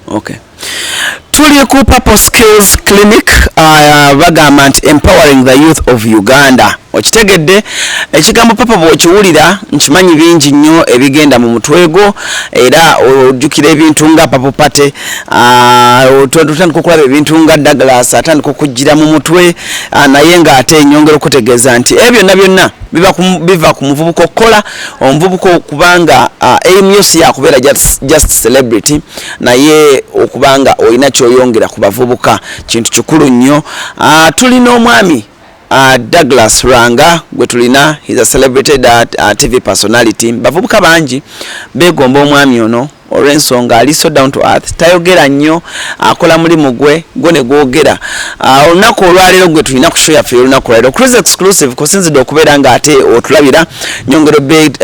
Okay. Tuli ku Purple Skills Clinic uh, bagamba nti empowering the youth of Uganda. Okitegedde ekigambo papa bw'okiwulira nkimanyi bingi nnyo ebigenda mu mutwe gwo era ojjukira ebintu nga papo pate uh, otandika okulaba ebintu nga Douglas atandika okujjira mu mutwe uh, naye ng'ate enyongera okutegeeza nti ebyo byonna byonna biva ku muvubuka okukola omuvubuka okuba nga aim yo si yakubeera just celebrity naye okuba nga olina kyoyongera ku bavubuka kintu kikulu nnyo tuli n'omwami Uh, Douglas Ranga gwe tulina he's a celebrated uh, uh, TV personality bavubuka bangi begomba omwami ono olw'ensonga ali so down to earth tayogera nnyo akola mulimu gwe gwe ne gwogera ah, olunaku olwaleero gwe tulina ku show yaffe olunaku olwaleero cruise exclusive kusinzidde okubeera nga ate otulabira nyongero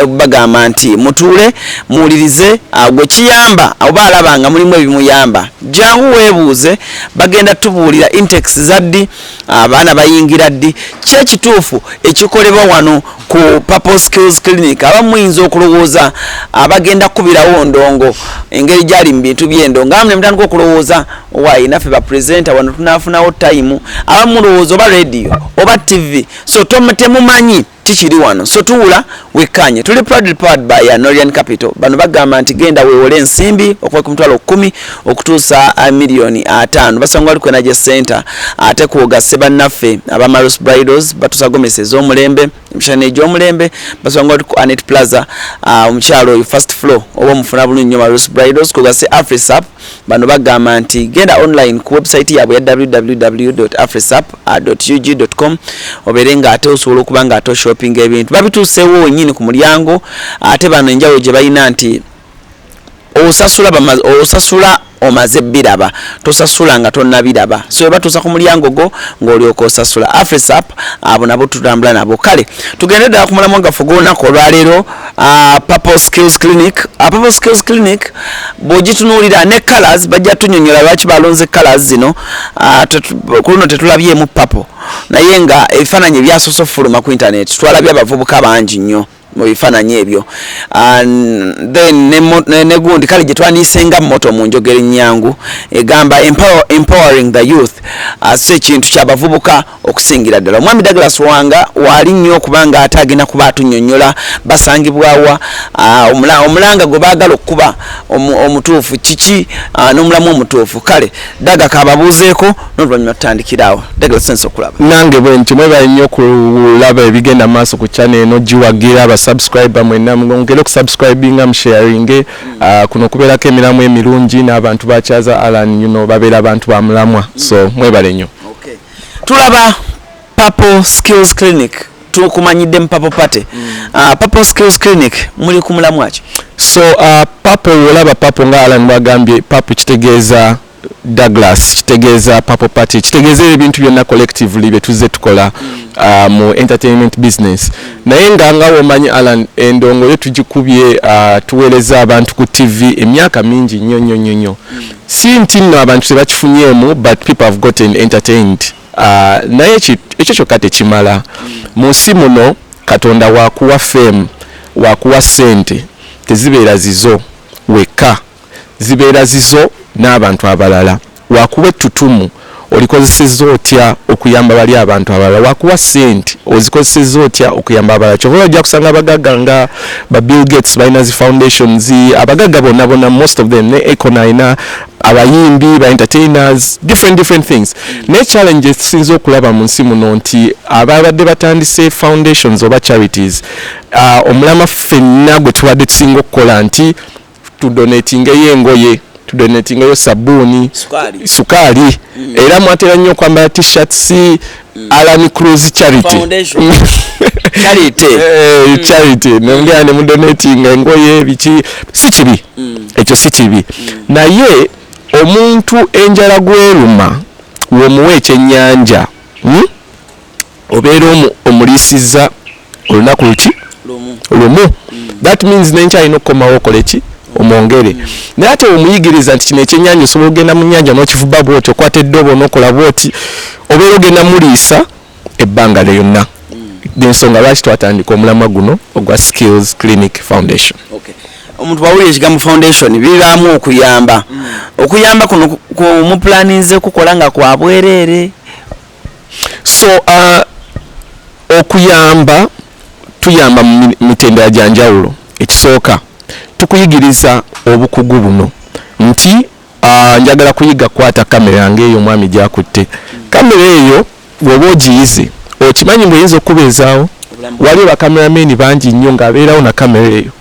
bagamba nti mutuule muwulirize ah, gwe kiyamba oba alaba nga mulimu ebimuyamba jangu weebuuze bagenda tubuulira intex za ddi ah, abaana bayingira ddi ki ekituufu ekikolebwa wano ku Purple Skills Clinic abamu muyinza okulowooza abagenda kukubirawo ndongo engeri gyali mu bintu by'endongo abamu ne mutandika okulowooza owaye naffe ba presenter wano tunaafunawo time abamu mulowooza oba radio oba tv so temumanyi tikiri wano so tuwula wekkaanye tuli proudly powered by Anorian Capital bano bagamba nti genda weewole ensimbi okuva ku mitwalo kkumi okutuusa ah, miliyoni ataano basanga wali kwena gye center ate kwogase bannaffe aba maros bridals batusa gomesi ez'omulembe emishana egy'omulembe basanga wali ku anet plaza ah, omukyalo oyo first floor oba omufuna bulungi nyo maros bridals kwogase afrisap bano bagamba nti genda online ku website yaabwe ya www afrisap ah, ug com obeere nga ate osobola okuba nga ate oshopping ebintu babituuseewo wenyini ku mulyango ate bano enjawulo gye balina nti osasula bamaze osasula omaze biraba tosasula nga tonabiraba so eba tusa ku mulyango go ng'olyoka osasula afrisap abo nabo tutambula nabo kale tugende ddala ku mulamu gaffe gw'olunaku olwaleero ah, purple skills clinic ah, purple skills clinic bw'ogitunuulira ne colors bajja tunyonyola lwaki balonze colors zino ah, ku luno tetulabyemu purple naye nga ebifaananyi ebyasoose okufuluma ku internet twalabye abavubuka bangi nnyo mu bifaananyi ebyo then ne gundi kale gye twandiyisenga moto mu njogera ennyangu egamba empowering the youth si ekintu kyabavubuka okusingira ddala omwami douglas wanga waali nnyo okubanga ate agenda kuba atunyonyola basangibwawa omulanga gwe baagala okukuba omutuufu kiki n'omulamu omutuufu kale daga kababuuzeeko noluvannyuma tutandikiraawo daga sense okulaba nange bwe nti mwebale nnyo okulaba ebigenda maaso ku chana eno giwagira abasubscribe mwena mwongere okusubscribinga musharinge mm. ah, kuno kubeerako emiramu emirungi n'abantu bakyaza alan yuno babeera abantu ba mulamwa so mwebale nnyo tulaba Purple Skills Clinic tukumanyidde mu Purple Party. Mm. Uh, Purple Skills Clinic muli ku mulamwa ki? So uh, Purple wolaba Purple nga Alan mwagambye Purple kitegeeza Douglas kitegeeza Purple Party kitegeeza ebintu byonna collectively bye tuzze tukola mm. uh, mu entertainment business naye nga nga womanyi Alan endongo yo tugikubye uh, tuweereza abantu ku TV emyaka mingi nnyo nnyo nnyo nnyo mm. si nti nno abantu tebakifunyeemu but people have gotten entertained Ah, naye ekyo kyokka tekimala mu nsi muno katonda wakuwa fame wakuwa sente tezibeera zizo wekka zibeera zizo n'abantu abalala wakuwa ettutumu olikozeseza otya okuyamba bali abantu abalala wakuwa sente ozikozeseza otya okuyamba abalala kyova bajja kusanga abagaga nga ba bill gates balina zi foundations abagaga bonabona most of them ne econ alina abayimbi ba entertainers different different things naye challenge esinza okulaba mu nsi muno nti ababadde batandise foundations oba charities uh, omulama ffenna gwe tubadde tusinga okukola nti tudonatingeyo engoye tudonatingeyo sabuuni sukaali mm. era mwatera nnyo okwambala t-shirts Mm. Alan Cruz Charity Foundation Charity eh, mm. Charity mm. nongea ne donating ngoye bichi si kibi mm. ekyo si kibi mm. naye omuntu enjala gweruma womuwe ekyenyanja hmm? obeera omulisiza olunaku luki lumu that means nenkya alina okukomawo okole ki omwongere naye ate omuyigiriza nti kino ekyenyanja osobola okugenda mu nyanja nokivuba bwoti okwata eddobo nokola bwoti obeera ogenda muliisa ebbanga lyonna ensonga lwaki twatandika omulamwa guno ogwa skills clinic foundation okay. omuntu bwawulira ekigambo foundation bibaamu okuyamba mm. okuyamba kuno mupulaninze kukola nga kwabwereere so uh, okuyamba tuyamba mu mitendera gya njawulo ekisooka tukuyigiriza obukugu buno nti uh, njagala kuyiga kukwata kamera yange eyo omwami gyakutte kamera eyo woba ogiyize okimanyi ngaoyinza okukubeezaawo waliwo bakamerameni bangi nnyo ngaabeerawo na kamera eyo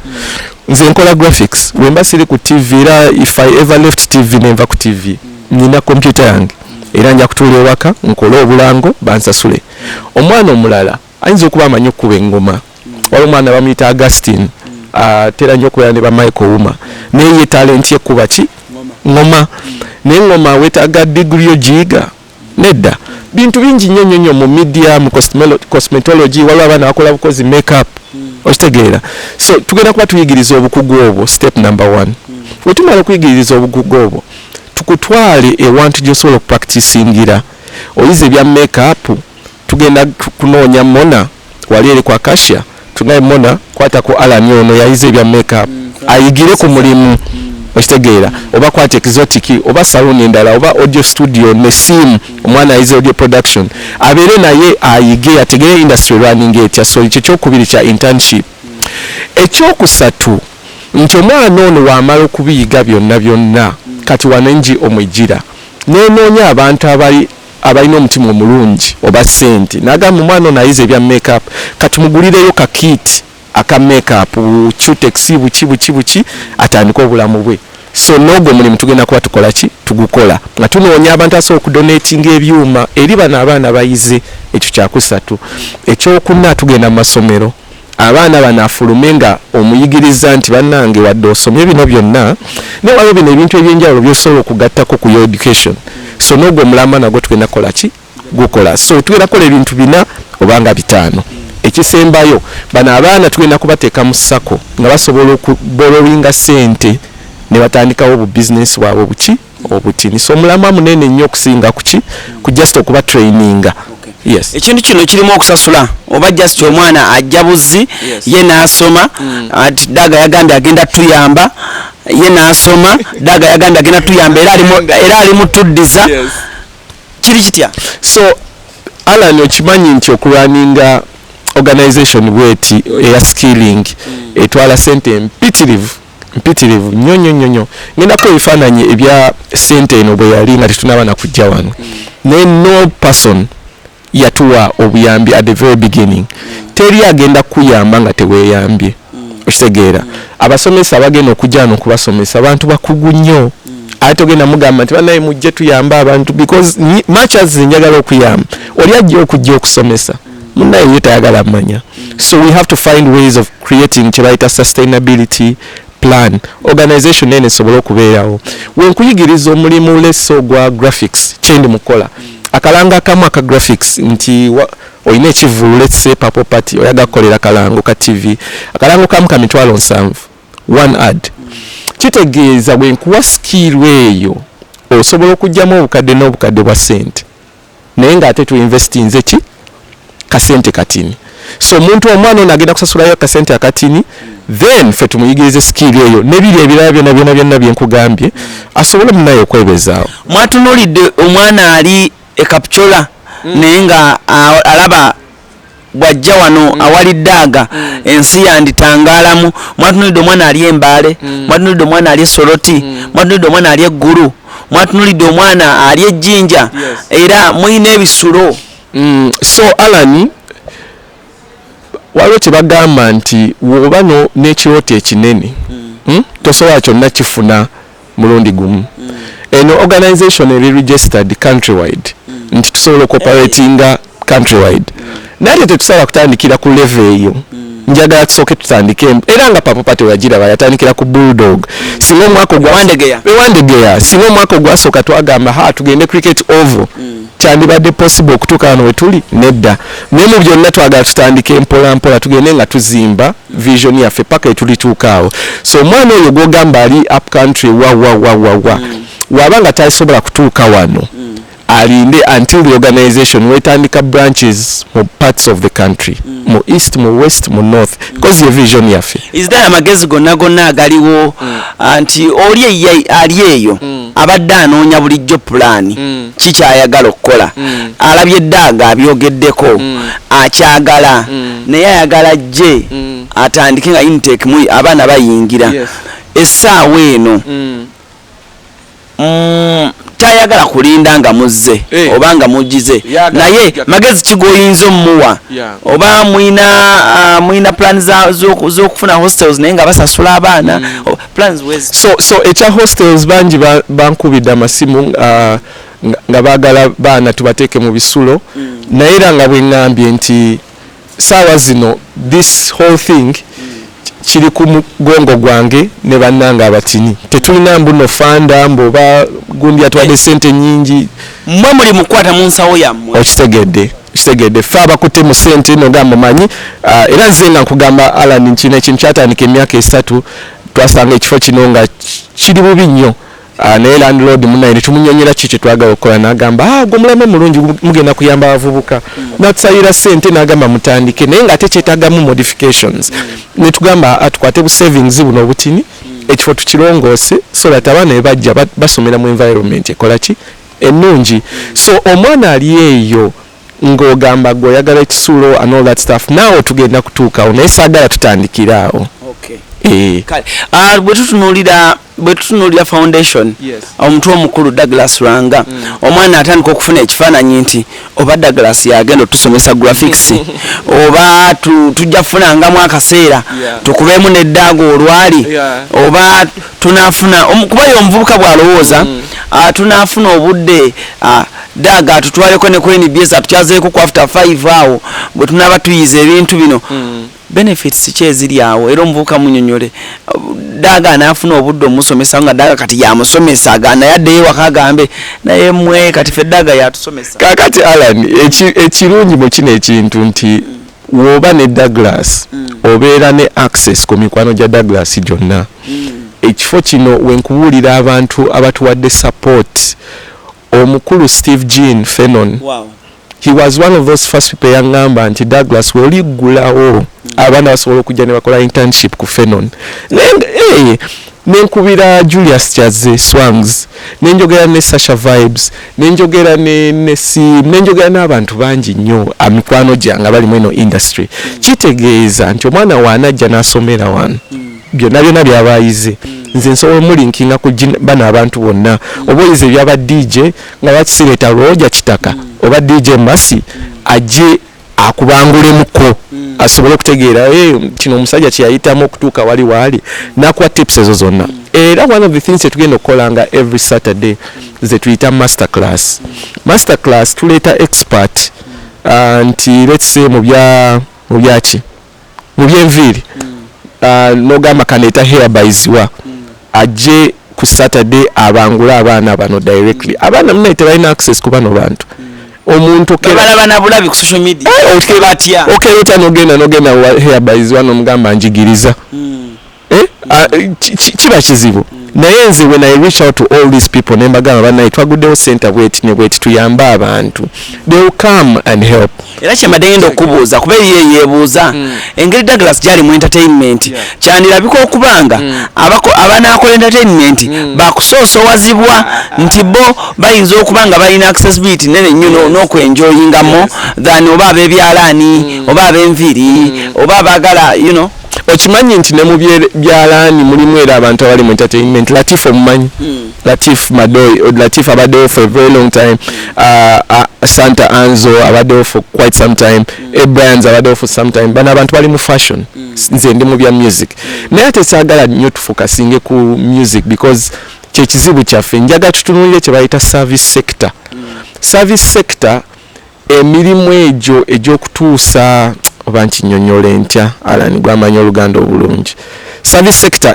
nze nkola graphics wemba siri ku tv era if i ever left tv nenva ku tv nina kompyuta yange era nja kutuula ewaka nkole obulango bansasule omwana omulala ayinza okuba amanyi okukuba engoma wali omwana bamuyita augustin atera nyo okubeera ne bamichael wuma naye ye talenti ekuba ki ngoma naye ngoma wetaaga digiri yo giyiga nedda bintu bingi nnyo nnyo nnyo mu media mu cosmetology waliwo abaana bakola bukozi makeup hmm. okitegeera so tugenda kuba tuyigiriza obukugu obwo step number one hmm. wetumala okuyigiriza obukugu obwo tukutwale ewantu gyosobola okupractisingira oyize ebya makeup tugenda kunoonya mona wali eri kwa kasha tunaye mona kwata ku alani ono yayize ebya makeup mm, ayigire ku mulimu mm. okitegeera mm. oba kwata exotiki oba saluni endala oba audio studio ne sim omwana ayize audio production abeere naye ayige ategere industry running etya so kyekyo okubiri kya internship ekyokusatu mm. nti omwana ono wamala okubiyiga byonna byonna kati wano enji omwejira nenoonya abantu abalina omutima omulungi oba sente nagamba omwana ono ayize ebya make up katumugulireyo ka kit aka make up cutex buki buki buki atandike obulamu bwe so noogwo omulimu tugenda kuba tukola ki tugukola nga tunoonya abantu asobola okudonatinga ebyuma eri bano abaana bayize ekyo kyakusatu ekyokuna tugenda mu masomero abaana bano afulume nga omuyigirizza nti banange wadde osomye bino byonna naye waliwo bino ebintu ebyenjawulo byosobola okugattako ku your education so n'ogwo omulamba nagwo tugenda kukola ki gukola so tugenda kukola ebintu bina obanga bitaano ekisembayo bano abaana tugenda kubateeka mu sako nga basobola okuborowinga sente ne batandikawo obubizinesi bwabwe buki obutinisa omulamwa munene nnyo okusinga kuki ku just okuba traininga yes ekintu kino kirimu okusasula oba just omwana ajja buzzi ye n'asoma hmm. ati daga yagambye agenda tuyamba ye n'asoma daga yagambye agenda tuyamba era ali mutuddiza kiri kitya so alan okimanyi nti okulwaninga organization bweti eya skilling hmm. etwala sente mpitirivu mpitirivu nyo nyo nyo nyo ngenda ko ebifaananyi ebya sente eno bwe yali nga tetunaba na kujja wano naye no person yatuwa obuyambi at the very beginning teri agenda kuyamba nga teweyambye okitegeera abasomesa abagenda okujja wano okubasomesa abantu bakugu nnyo ate togenda mugamba nti banaye mujje tuyambe abantu because much as njagala okuyamba oli ajja okujja okusomesa munaye ye tayagala manya so we have to find ways of creating kyebayita sustainability plan organization ene esobole okubeerawo wenkuyigiriza omulimu leso gwa graphics kyendi mukola akalanga akamu aka graphics nti olina ekivulu letse papo party oyaga kukolera kalango ka tv akalango kamu ka mitwalo nsanvu one ad kitegeeza wenkuwa sikiirwa eyo osobola okugyamu obukadde n'obukadde bwa sente naye nga ate tu investinze ki kasente katini so omuntu omwana ono agenda kusasulayo akasente akatini then fe tumuyigirize sikiiri eyo nebiri ebirala byona byona byonna byenkugambye asobole munaye okwebezaawo mwatunulidde omwana ali ekapcola mm. naye nga alaba bwajja wano mm. awali daaga mm. ensi yanditangaalamu mwatunulidde omwana ali embaale mm. mwatunulidde omwana ali esoroti mm. mwatunulidde omwana ali eggulu mwatunulidde omwana ali ejjinja yes. era mulina ebisulo mm. so alani waliwo kyebagamba nti woba n'ekirooto ekinene mm. hmm? tosobola kyonna kifuna mulundi gumu eno organization eri registered countrywide nti tusobola okoperatinga countrywide naye te tetusobola kutandikira ku leve eyo njagala tusooke tutandike era nga papa pate weyagiraba yatandikira ku bulldog singa omwaka ogwandegeya singa omwaka ogwasooka twagamba ha tugende cricket oval kyandibadde possible okutuuka wano wetuli nedda naye mu byonna twagala tutandike mpola mpola tugende nga tuzimba vision yaffe paka etulituuka awo so omwana oyo gwogamba ali up country wawawawawa mm. waba nga tasobola kutuuka wano mm. alinde until the organization wetandika branches mu parts of the country mm. mu east mu west mu north because mm. ye vision yaffe is there amagezi gonna gonna agaliwo mm. anti oli ali eyo mm. abadde anoonya bulijjo pulani mm. kikyayagala okukola mm. alabye daaga abyogeddeko mm. akyagala mm. naye ayagala jje mm. atandike nga intake mu abaana bayingira yes. essaawa eno mm. Mm, tayagala kulinda nga muzze hey. Eh. oba nga mugize naye magezi kigoyinza omuwa yeah. oba mwina uh, mwina plan zokufuna hostels naye nga basasula abaana mm. plans wezi so so echa hostels banji bankubida masimu uh, nga bagala baana tubateke mu bisulo mm. naye era nga bwengambye nti saawa zino this whole thing mm. kiri ku mugongo gwange ne bannange abatini tetulina mbuno fanda mboba gundi atwadde eh. sente nyingi mwe muli mukwata mu nsawo yammwe okitegedde kitegedde ffe abakutte mu ssente eno nga mumanyi ah, era nze nga nkugamba alan nkino ekintu kyatandika emyaka esatu twasanga ekifo kino nga kiri bubi nnyo ah, naye landlord munaye netumunyonyera ki kyetwagala okukola nagamba ah, gwe mulame mulungi mugenda kuyamba abavubuka hmm. natusayira sente nagamba mutandike naye nga ate kyetagamu modifications hmm. netugamba atukwate bu savings buno obutini hmm. ekifo tukilongoose so that abaana bebajja basomera mu environment ekolaki enungi so omwana ali eyo nga ogamba gwe oyagala ekisulo and all that stuff naawe tugenda kutuukawo naye saagala tutandikira awo eh. ah, bwe tutunuulira bwe tutunuulira foundation omutwe omukulu douglas lwanga mm. omwana atandika okufuna ekifaananyi nti oba Douglas yagenda otusomesa graphics oba tujja kufunangamu akaseera tukubeemu neddaago olwali oba tunafuna kuba ye omuvubuka bw'alowooza mm. ah, tunafuna obudde ah, daaga atutwaleko ne ku nbs atukyazeeko ku after five awo bwe tunaaba tuyiza ebintu bino mm. benefits ki eziri awo era omuvubuka munyonyole daga anafuna obudde omusomesa nga daga kati yamusomesa naye addeyo waka agambe naye mwe kati fe daga yatusomesa kakati alan ekirungi mu kino ekintu nti woba ne douglas mm. obeera ne access ku mikwano gya douglas gyonna mm. ekifo kino wenkubuulira abantu abatuwadde support omukulu steve jean fenon wow. he was one of those first people yangamba nti douglas woliggulawo mm. abaana basobola okujja ne bakola internship ku fenon eh, nenkubira julius kyaze swangs nenjogera ne sasha vibes nenjogera ne nesi nenjogera n'abantu bangi nnyo amikwano gyange abali mu eno industry mm. kitegeeza nti omwana waanajja n'asomera wano mm. byonna byonna byaba ayize nze nsobola omulinkinga ku bano abantu bonna oba oyize ebyaba dj nga bakisireeta lwoja kitaka oba dj masi ajje akubangulemuko mm. asobole okutegeera eh, kino omusajja kyeyayitamu okutuuka wali waali nakuwa tips ezo zonna mm. era one of the things etugenda okukola nga every saturday mm. zetuyita master class master class tuleeta expert uh, nti let's say mubyaki mu byenviiri ah, nogamba kaneeta hair bayiziwa ajje ku saturday abangule abaana bano directly abaana munaye tebalina access ku bano bantu omuntu okera- babalaba na bulabi ku social media Eh, okera- batya okera otya nogenda nogenda wa hair bayiziwa nomugamba njigiriza Eh, ah, ki- ki- kiba kizibu naye nze when i reach out to all these people ne mbagamba banaye twaguddewo senta bweti ne bweti tuyambe abantu they will come and help era kyembadde ngenda okubuuza kuba eriyo eyebuuza engeri douglas gyali mu entertainment kyandirabika okubanga abako- abanaakola entertainment bakusoosowazibwa nti bo bayinza okuba nga balina accessibility nene nnyo no- n'okwenjoyingamo than oba abebyalaani oba abenviri oba abagala you know okimanyi nti ne mu byalaani mulimu era abantu abali mu entertainment latif omumanyi hmm. latif madoy latif abaddewo for a very long time uh, uh, santa anzo abaddewo for quite some time hmm. abrans abaddewo for some time bano abantu bali mu fashion hmm. nze ndi mu bya music naye ate saagala nnyo tufokasinge ku music because kyekizibu kyaffe njaga tutunulire kye bayita service sector service sector Emirimu egyo egy'okutuusa oba nkinyonyole ntya Alan gw'amanyi oluganda obulungi service sector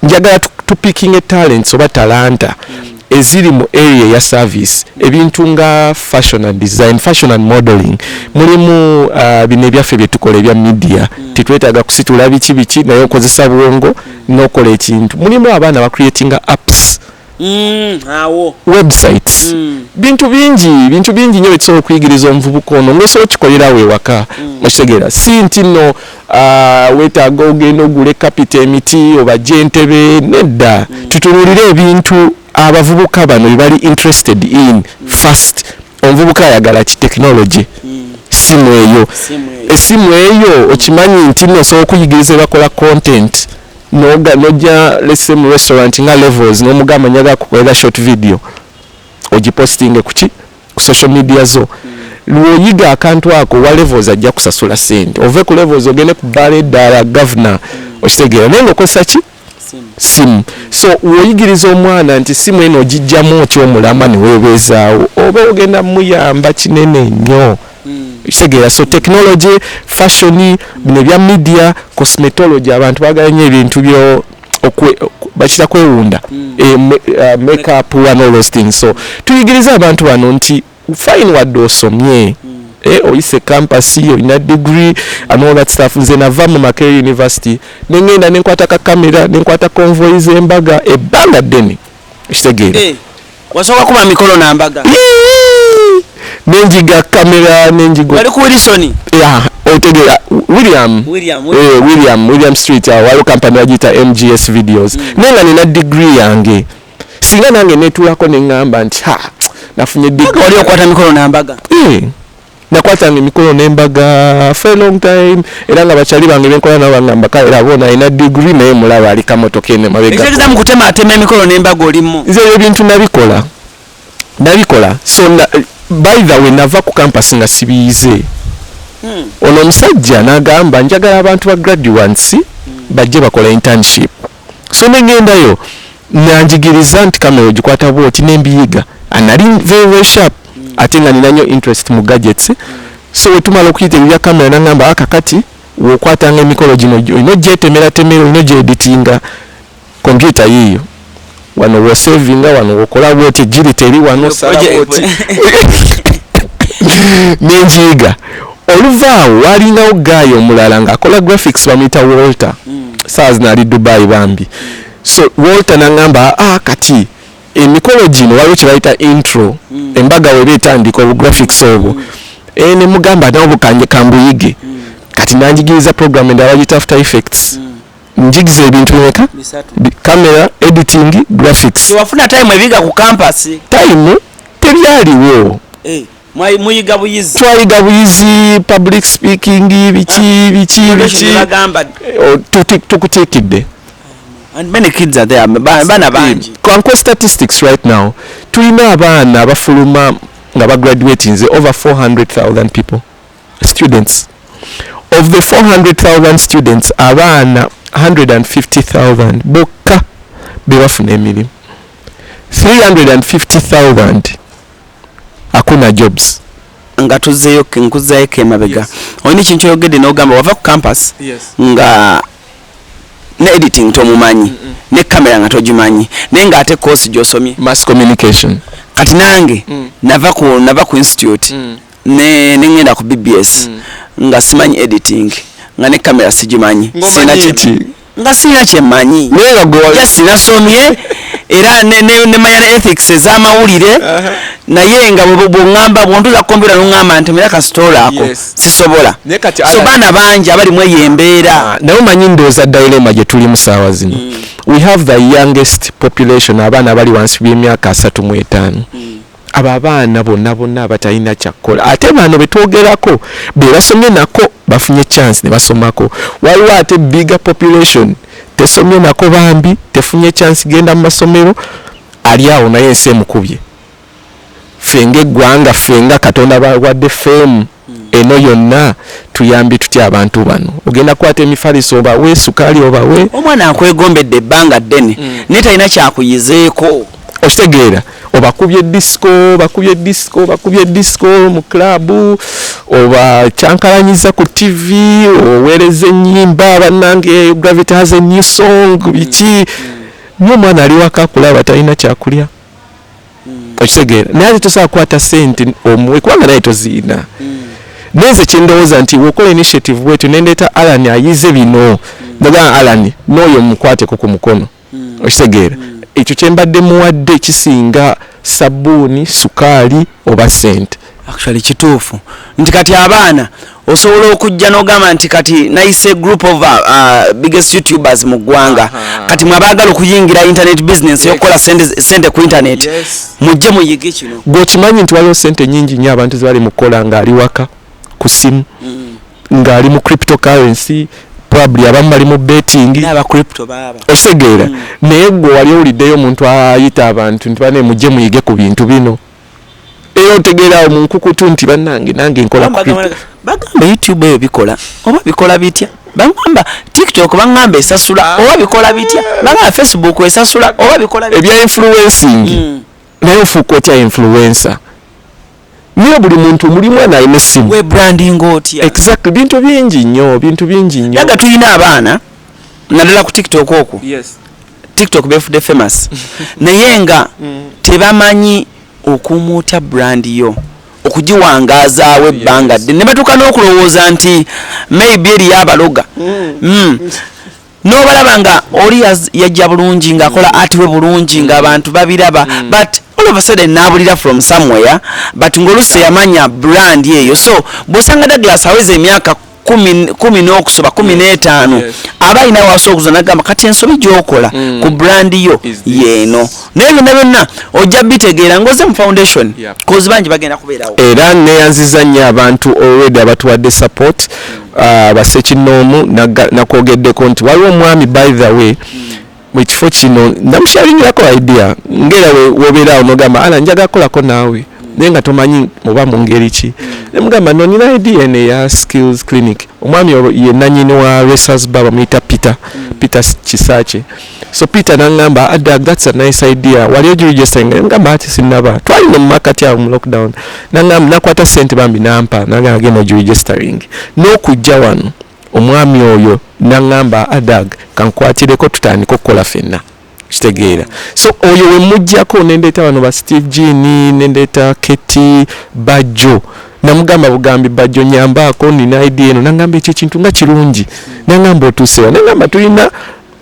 njagala tupikinge talents oba talanta eziri mu area ya service ebintu nga fashion and design fashion and modeling mulimu uh, bino ebyaffe byetukola ebya media mm. tetwetaaga kusitula biki biki naye okozesa bwongo nokola ekintu mulimu abaana bacreatinga apps Mm, websites mm. bintu bingi bintu bingi nyo bisobola okuyigiriza omuvubuka ono ngaosobola okikolera awo ewaka mm. okitegeera si nti no uh, wetaaga ogenda ogule kapita emiti oba gyentebe nedda mm. tutunulire ebintu abavubuka bano bebali interested in mm. first omuvubuka ayagala ki technology mm. simu eyo esimu eyo okimanyi nti nosobola okuyigiriza ebakola content mm. noga noja let's say mu restaurant nga levels no mugamba nyaga kukwela short video oji posting kuki ku social media zo lwoyiga akantu ako wa levels ajja kusasula sente ove ku levels ogende ku bale dala governor okitegera naye ngokozesa ki simu so woyigiriza omwana nti simu eno ogijjamu otyomulama newebeezaawo oba ogenda muyamba kinene nnyo kitegeera so technology fashion bino ebya media cosmetology abantu bagala nyo ebintu byo bakita kwewunda hmm. eh, uh, makeup and all those things so tuyigiriza abantu bano nti fine wadde osomye hmm. eh, oyise campus olina degree and all that stuff nze nava mu makere university nengenda nenkwata kakamera nenkwata convoy zembaga ebbanga ddene ekitegeera eh. Wasooka kuba mikolo na mbaga. Nenjiga kamera nenjiga. Wali ku Wilson. Yeah, otegera William. William. Eh, William, William Street awo waliwo kampani yagiyita MGS Videos. Mm. Naye nga nina degree yange. Singa nange netulako ne ngamba nti ha nafunye degree. Wali okwata mikolo na mbaga. Eh. nakwatanga emikolo ne mbaga for a long time era nga bakyali bange benkola nabo bangamba kale era bona alina digiri naye mulaba ali kamotoka eno mabegakitegeeza mu kutemaatema emikolo ne mbaga olimu nze ebyo bintu nabikola nabikola so na, by the way nava ku kampasi nga sibiyize hmm. ono omusajja nagamba njagala abantu ba graduates hmm. bajje bakola internship so ne ngendayo nanjigiriza nti kamera ogikwata bwoti nembiyiga anali very very sharp ate nga nina nyo interest mu gadgets so wetumala okuyita ebya kamera nangamba aka kati wokwatanga emikolo gino olina ogyetemeratemera olina ogyeditinga kompyuta yiiyo wano wosavinga wano wokola bwoti ejiri teri wano nenjiyiga Oluva awo waalingawo ggaayi omulala ng'akola graphics bamuyita Walter mm. saa zino ali Dubai bambi so Walter nangamba ah, kati emikolo gino waliwo kye bayita intro mm. embaga weba etandika obu graphics obwo mm. e, ne mugamba nawo bukanje kambuyige mm. kati nanjigiriza program endala bagiyita after effects mm. njigiza ebintu bimeka camera editing graphics wafuna time ebiga ku campus time tebyaliwo hey. Eh. mwayiga buyizi twayiga buyizi public speaking biki ah, biki biki eh, tukutikidde and many kids are there bana bangi kanko statistics right now tulina abaana abafuluma nga bagraduate nze over 400000 people students of the 400000 students abaana 150000 bokka bebafuna emirimu 350000 akuna jobs nga tuzeyo nkuzayo ke mabega yes. olina ekintu kyoyogedde nogamba wava ku campus yes. nga ne editing tomumanyi mm -mm. ne kamera nga togimanyi naye nga ate kosi gyosomye mass communication kati nange mm. nava ku nava ku institute mm. ne nengenda ku bbs mm. nga simanyi editing nga ne kamera sigimanyi sina kiti nga sirina kyemmanyi naye nga gwe wali just nasomye era ne- ne- nemanya ne ethics ez'amawulire Aha. naye nga bwe- bwongamba bwontuza kompyuta nongamba nti mira kasitoola ako Yes. sisobola Naye kati so Alan- baana bangi abali mu eyo embeera naye omanyi ndowooza dilema gye tulimu saawa zino we have the youngest population abaana abali wansi by'emyaka asatu mu etaano Abo abaana bona bona abatalina kyakkola ate bano betwogerako bebasomye nako bafunye chance nebasomako waliwo ate bigger population tesomye nako bambi tefunye chance genda mumasomero ali awo naye ensi emukubye ffe nga eggwanga ffe nga katonda bawadde fame eno yonna tuyambye tutya abantu bano ogenda kwata emifaliso obawe sukaali obawe omwana akwegombedde ebbanga ddene mm. naye talina kyakuyizeeko okitegeera obakubye disco bakubye disco bakubye disco mu klabu obakyankalanyiza ku tv oweereza ennyimba bannange gravity has a new song biki mm. mm. nyo omwana ali waka kulaba talina kyakulya mm. okitegeera naye ate tosobola kukwata sente omuwe kubanga naye toziina mm. naye nze kyendowooza nti wokola initiative bwetyo nendeeta alan ayize bino mm. nagaa alan nooyo mukwateko ku mukono mm. okitegeera mm. ekyo kyembadde muwadde kisinga sabbuuni sukaali oba sente actually kituufu nti kati abaana osobola okujja nogamba nti kati nayise group of uh, uh, biggest youtubers mu ggwanga uh -huh. kati mwabaagala okuyingira internet business yokukola sente ku internet yes. mujje muyige kino gwekimanyi nti waliwo sente nyingi nyo abantu zibali mukukola ngaali waka ku simu mm. ngaali mu crypto currency probably abamu bali mu betting osegeera mm. naye gwe wali owuliddeyo omuntu ayita abantu nti bane mujje muyige ku bintu bino era otegeera awo mu nkukutu nti bannange nange nkola bagamba youtube eyo bikola oba bikola bitya bagamba tiktok bagamba esasula ah. oba bikola bitya bagamba facebook esasula oba bikola ebya influencing hmm. naye ofuuka otya influencer naye buli muntu muli mwana alina essimu webranding otya exactly bintu bingi nnyo bintu bingi nnyo naga tulina abaana naddala ku tiktok okwo yes. tiktok befude famous naye nga mm. tebamanyi okuuma otya brand yo okugiwangazaawo ebbanga dde ne batuuka n'okulowooza nti maybe eriyo abaloga mm. Mm. nobalaba nga oli yajja bulungi ngaakola atiwe bulungi ngaabantu babiraba but all of a sudden nabulira from somewhere but ngaolusi yamanya brand eyo so bwosanga douglas aweza emyaka kumi n'okusoba kumi mm. n'etaano aba alina waasa okuza nagamba kati ensobi gyokola mm. ku brand yo yeeno naye byonna byonna ojja bitegeera ngoze mu foundation kozi bangi bagenda kubeerawo era neyanziza nnyo abantu already abatuwadde support mm. uh, basekinoomu nakwogeddeko nti waliwo omwami by the way mu kifo kino namusharingirako idea ngera wobeera onogamba ala njaga kolako naawe naye nga tomanyi oba mu ngeri ki ne mugamba no nina idea eno eya skills clinic omwami ye nanyini wa resas ba bamuyita peter peter kisakye so peter nangamba adag ah, thats a nice idea wali ogirijistinga nemugamba ati sinaba twali nomumakati awo mu lockdown nangamba nakwata sente bambi nampa nagagenda ogirijistingi n'okujja wano omwami oyo naŋŋamba adag kankwatireko tutandika okukola fenna kitegeera so oyo wemujjako nendeeta bano ba steve gini nendeeta keti bajjo namugamba bugambi bajjo nyambaako nina id eno nagamba ekyo ekintu nga kirungi nagamba otuusewa nagamba tulina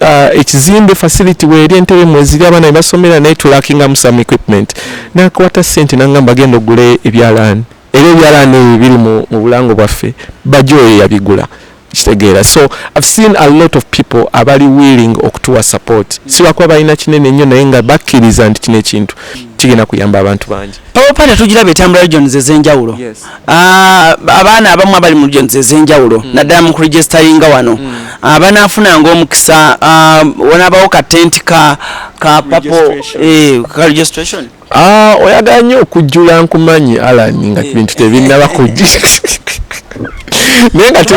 uh, ekizimbe facility weeri entebe mweziri abaana bebasomera naye tulakingamu some equipment nakwata sente nagamba genda ogule ebyalaani Era ebyalaani ebyo biri mu mu bulango bwaffe Bajjo oyo yabigula kitegeera so I've seen a lot of people abali willing okutuwa support sibakuba balina kinene nnyo naye nga bakkiriza nti kino ekintu kigenda kuyamba abantu bangi Power Party tugiraba etambula regions ez'enjawulo Yes. Ah, abaana abamu abali mu regions ez'enjawulo naddala mu kuregisteringa wano Ah, banaafunanga omukisa ah, wanaabawo ka tenti ka ka papo Registration. eh, ka registration Ah, oyagala nnyo okujjula nkumanyi alan nga eh. bintu tebinnaba kujja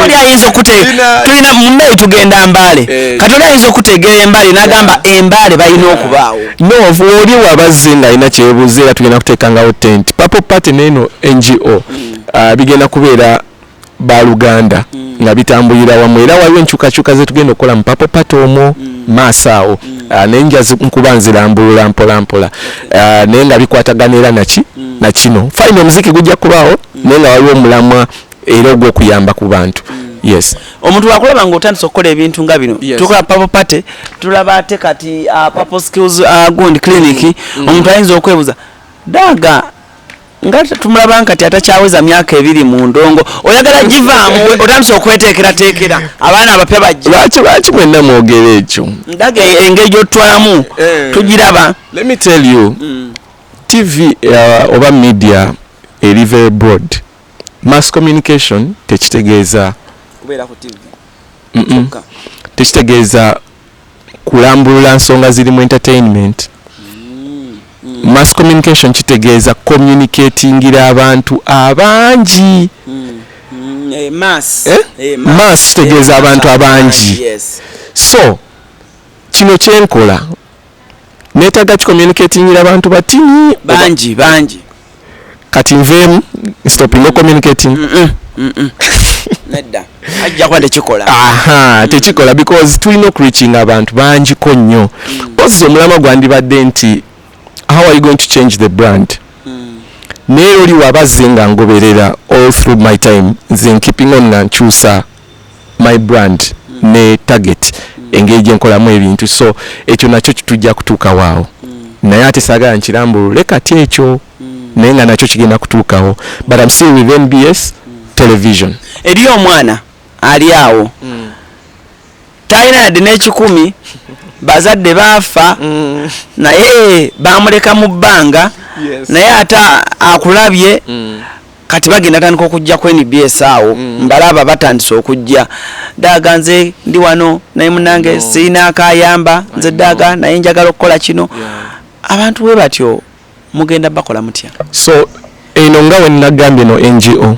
oli ayinza okutegeera tulina mumeyi tugenda mbaale eh. kati oli ayinza okutegeera embaale nagamba embaale balina okubaawo nov oli wabazze nga alina kyebuuza era tugenda kuteekangawo tent papo party neeno ngo hmm. ah, bigenda kubeera baluganda mm. nga bitambulira wamu era waliwo enkyukakyuka zetugenda okukola mu papo pata omwo mm. maaso awo mm. uh, naye nja nkuba nzirambulula mpolampola uh, naye nga bikwatagana era naki mm. na kino fine omuziki gujja kubaawo mm. naye nga waliwo omulamwa era ogw'okuyamba ku bantu mm. yes omuntu wakulaba nga otandise okukola ebintu nga bino yes. tukola papo pate tulaba ate kati uh, papo skills uh, gund clinic mm. mm. omuntu ayinza okwebuza daga nga tumulaba nkati atakyaweza myaka ebiri mu ndongo oyagala givaamu otandise okweteekerateekera abaana abapya bajja lwaki lwaki mwenna mwogera ekyo ndaga engeri gyotutwalamu eh. tugiraba let me tell you mm. tv uh, oba media eri very broad mass communication tekitegeeza tekitegeeza kulambulula nsonga ziri mu entertainment mass communication kitegeeza communicatingira abantu abangi mass eh? eh, kitegeeza eh, abantu abangi so kino kyenkola netaga ki communicating la bantu batini banji banji kati nvemu stop no communicating mm -mm. Mm -mm. nedda ajja kwa tekikola aha mm. tekikola because tulina okreaching abantu bangi ko nnyo mm. ozi omulama gwandibadde nti how are you going to change the brand mm. naye oli wabazze nga ngoberera all through my time nze keeping on nga nkyusa my brand mm. ne target mm. engeri gyenkolamu ebintu so ekyo nakyo tujja kutuukawo awo mm. naye ate saagala nkirambulule kati ekyo mm. naye nga nakyo kigenda kutuukawo but am still with nbs mm. television eri omwana ali awo mm. talina yadde n'ekikumi bazadde baafa mm. naye bamuleka mu bbanga yes. naye ate akulabye mm. kati bagenda tandika okujja ku nbs awo mm. mbalaba batandise okujja daaga nze ndi wano naye munange no. sirina akayamba nze daaga naye njagala okukola kino yeah. abantu we batyo mugenda bakola mutya so eno nga wenagambye no ngo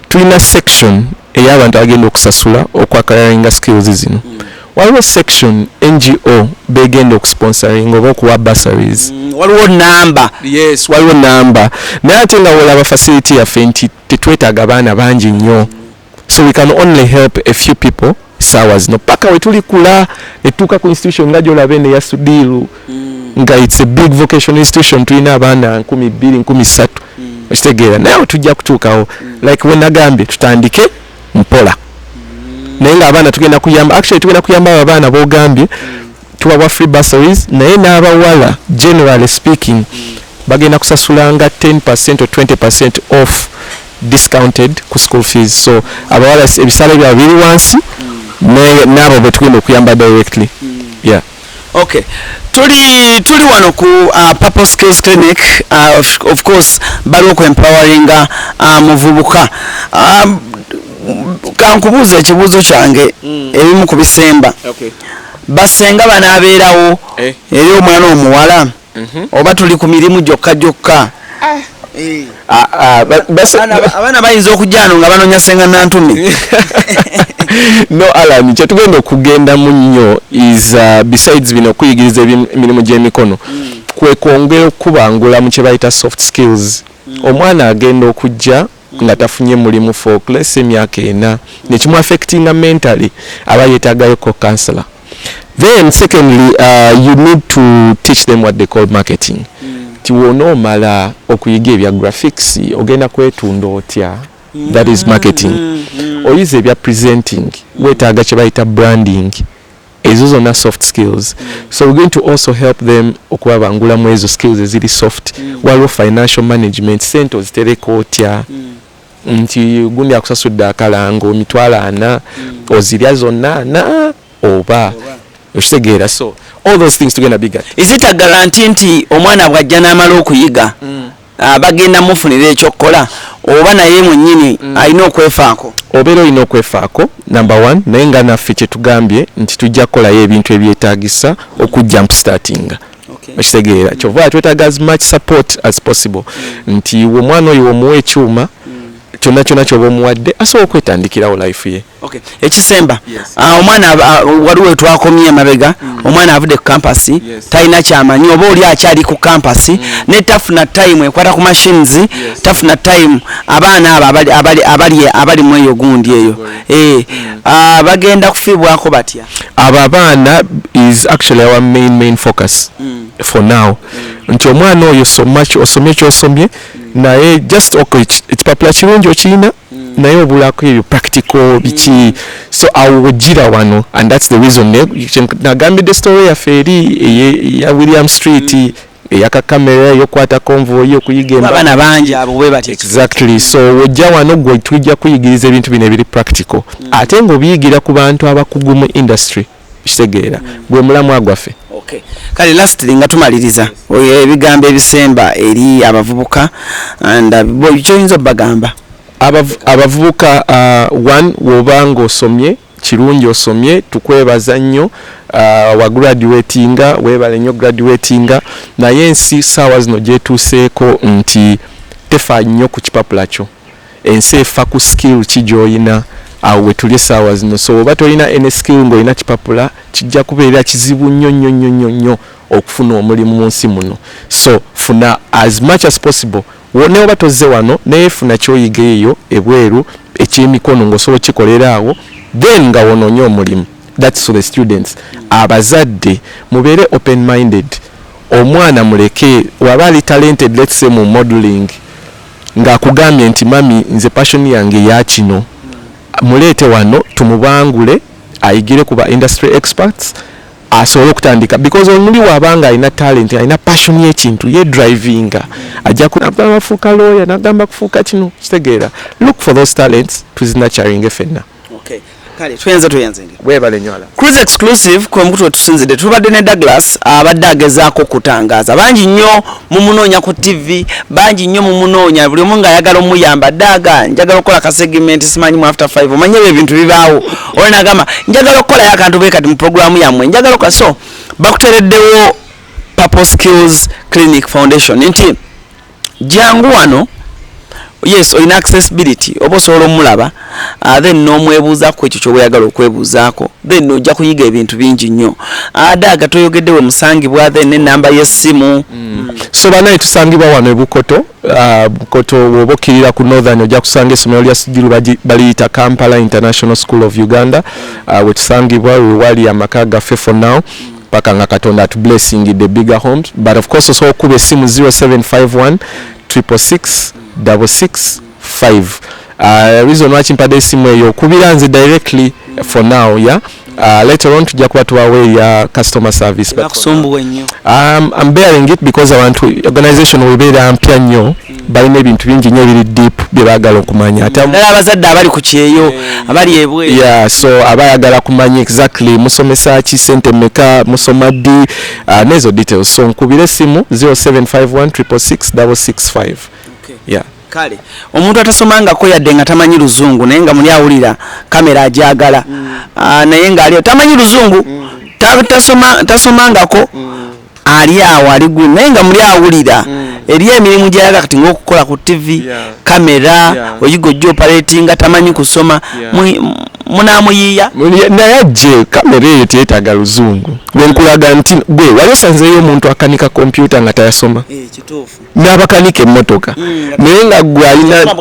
tulina section ey'abantu abagenda okusasula okwakalaringa skills zino mm. waliwo section ngo begenda okusponsoring oba okuwa bursaries mm, waliwo namba yes waliwo namba naye ate nga wolaba facility yaffe nti tetwetaaga abaana bangi nnyo so we can only help a few people saawa zino paka wetulikula etuuka ku institution nga gyolaba eno eya sudiiru mm. nga its a big vocation institution tulina abaana nkumi bbiri nkumi ssatu mm. okitegeera naye tujja kutuukawo mm. like wenagambye tutandike mpola naye nga abaana tugenda kuyamba actually tugenda kuyamba abo abaana bogambye tubawa free bursaries naye n'abawala generally speaking bagenda kusasulanga 10 percent or 20 percent off discounted ku school fees so abawala ebisale byabwe biri wansi n'abo betugenda okuyamba directly yeah Okay. Tuli tuli wano ku uh, Purple Skills Clinic uh, of, of course bali oku empowering uh, muvubuka um, kankubuuza ekibuuzo kyange mm. ebimu ku bisemba okay. basenga banaabeerawo eh. eri omwana omuwala mhm. oba tuli ku mirimu gyokka gyokka ah. eh. ah, ah, abaana bayinza okujano nga banonya senga nantumi no alan kyetugenda okugendamu nnyo is uh, besides bino okuyigiriza emirimu gy'emikono mm. kwekwongera okukubangula mu kyebayita soft skills mm. omwana agenda okujja nga tafunye mulimu for less emyaka ena nekimu affectinga mentally aba yetagayo ko counselor then secondly uh, you need to teach them what they call marketing mm. ti wona omala okuyiga ebya graphics ogenda kwetunda otya mm. that is marketing mm. mm. oyize ebya presenting mm. wetaaga kyebayita branding ezo zona soft skills so we're going to also help them okubabangula mu ezo skills eziri soft mm. waliwo financial management sente ozitereka otya mm. nti gundi akusasudde akalango emitwalo ana mm. ozirya zonna ana oba okitegeera so all those things tugenda biga is it a garanti nti omwana bwajja n'amala okuyiga mm. ah, bagenda mufunira ekyokukola oba naye mwenyini mm. alina okwefaako obeera olina okwefaako number one naye nga naffe kyetugambye nti tujja kukolayo ebintu ebyetagisa okujja mpustatinga okitegeera kyova twetaga as much support as possible mm. nti omwana oyo womuwa ekyuma mm. kyonna kyonna kyoba omuwadde asobola okwetandikirawo life ye okay. ekisemba yes. uh, omwana uh, waliwo etwakomye emabega mm. omwana avudde ku kampasi yes. talina kyamanyi oba oli akyali ku kampasi mm. ne tafuna time ekwata ku machines yes. tafuna time abaana abo abali, abali, abali, abali mu eyo gundi eyo eh, mm. uh, bagenda kufiibwako batya abo abaana is actually our main main focus mm. for now mm. nti omwana oyo osomye kyosomye naye just okay, ekipapula kirungi okirina mm. naye obulako ebyo practical biki mm. so awo wejira wano and that's the reason nagambidde story yaffe eri eya william street mm. eyaka kamera eyokwata konvoyi okuyigaabana bangi abo bwebati exactly so wojja wano gwe tujja kuyigiriza ebintu bino ebiri practical ate ngaobiyigira ku bantu abakugu mu industry kitegeera hmm. gwe mulamwa gwaffe okay. kale lastly nga tumaliriza ebigambo ebisemba eri abavubuka and uh, kyoyinza obagamba abavubuka uh, one woba nga osomye kirungi osomye tukwebaza nnyo uh, wa graduatinga webale nnyo graduatinga naye ensi saawa zino gyetuuseeko nti tefa nnyo ku kipapula kyo ensi efa ku skill ki gyoyina awo wetuli esaawa zino so oba tolina any skill nga olina kipapula kijja kubeera kizibu nnyo nnyo nnyo nnyo nnyo okufuna omulimu mu nsi muno so funa as much as possible ne oba tozze wano naye funa kyoyiga eyo ebweru ekyemikono ngaosobola okikolera awo then nga wononye omulimu thats to the students abazadde mubeere open minded omwana muleke waba ali talented let's say mu modeling nga akugambye nti mummy nze passion yange yakino muleete wano tumubangule ayigire ku ba industry experts asobole okutandika because omuli waba nga alina talent alina passion yekintu ye drivinga ajja kubafuuka lawyer nagamba kufuuka kino kitegeera look for those talents tuzinaturinge fenna Okay. Kale tuyenze tuyenze nge. Webale nyola. Cruise exclusive kwa mkutu tusinzide. Tubadde ne Douglas abadde agezaako kutangaza. Bangi nnyo mumunoonya ku TV, bangi nnyo mumunoonya buli omu nga ayagala omuyamba daga njagala okukola ka segment simanyi mu after 5. Omanye ebyo ebintu bibaawo. Oyo nagamba njagala okukola yakantu be kati mu programu yammwe. Njagala okukola so bakutereddewo Purple Skills Clinic Foundation. Nti jangu wano yes olina accessibility oba osobola omulaba uh, then nomwebuuza ku ekyo kyoba oyagala okwebuuzaako then ojja kuyiga ebintu bingi nnyo ada aga toyogedde we musangibwa then nenamba yessimu mm. so banaye tusangibwa wano ebukoto uh, bukoto woba okkirira ku northern ojja kusanga essomero lya sijiru baliyita kampala international school of uganda uh, wetusangibwa wewali amaka gaffe for now paka nga katonda atu blessingidde bigger homes but of course osobola okukuba essimu 0751 666 665 uh, reason lwaki mpadde essimu eyo okubira nze directly for now ya yeah? uh, later on tujja kuba tubawa eya customer service um, I'm bearing it because abantu organization webeera mpya nnyo balina ebintu bingi nyo ebiri deep bye bagala okumanya ate naddala abazadde abali ku kyeyo eh, abali ebweru yeah so aba ayagala kumanya exactly musomesa ki sente meka musoma ddi uh, nezo details so nkubira essimu 0751 yeah kale omuntu atasomangako yadde nga tamanyi luzungu naye nga muli awulira kamera ajagala mm. uh, naye nga aliyo tamanyi luzungu mm. tasomangako ta ali awo ali gulu naye nga muli awulira mm. eri emirimu gyayaga kati ngaokukola ku tivi kamera oyiga ojja opaletinga tamanyi kusoma munamuyiiya naye ajje kamera eyo teyetaaga luzungu nenkulaga nti gwe wali osanzeeyo omuntu akanika kompyuta nga tayasoma eh, n'abakanika emmotoka mm, naye nga gwe alina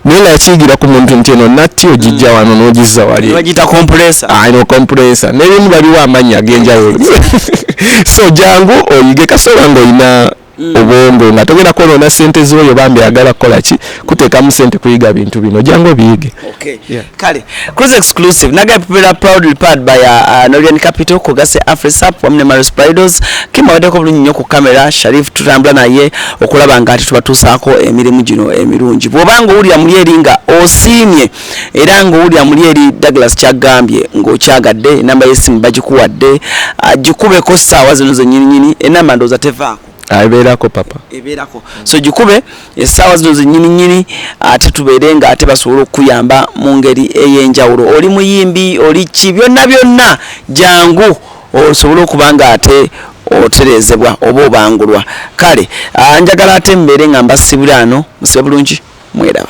naye nga yakiyigira ku muntu nti eno natti ogijja wano mm. n'ogizza wali bagiyita kompulesa aino ah, kompulesa n'ebimu baliwo amannya ag'enjawulo so jangu oyige kasobola ng'olina mm. obwongo nga togenda kwonoona sente z'oyo bambi agala kukola ki kuteekamu sente kuyiga bintu bino jangu obiyige kale cruise exclusive naga pepera proudly powered by uh, uh, Norian Capital kugase Afrisap wamne Marius Pridos kima wadeko bulungi nyo ku kamera Sharif tutambula naye okulaba nga ati tubatusaako emirimu gino emirungi bwoba nga owulira muli eri nga osiimye era nga owulira muli eri Douglas kyagambye ng'okyagadde enamba y'essimu bagikuwadde uh, gikubeko ssaawa zino zennyininyini enamba ndowooza tevaako ebeerako papa ebeerako so gikube essaawa zino zenyini nyini ate tubeere nga ate basobole okukuyamba mu ngeri ey'enjawulo oli muyimbi oli ki byonna byonna jangu osobole okuba nga ate otereezebwa oba obangulwa kale ah, njagala ate mbeere nga mbasibula ano musebulungi mweraba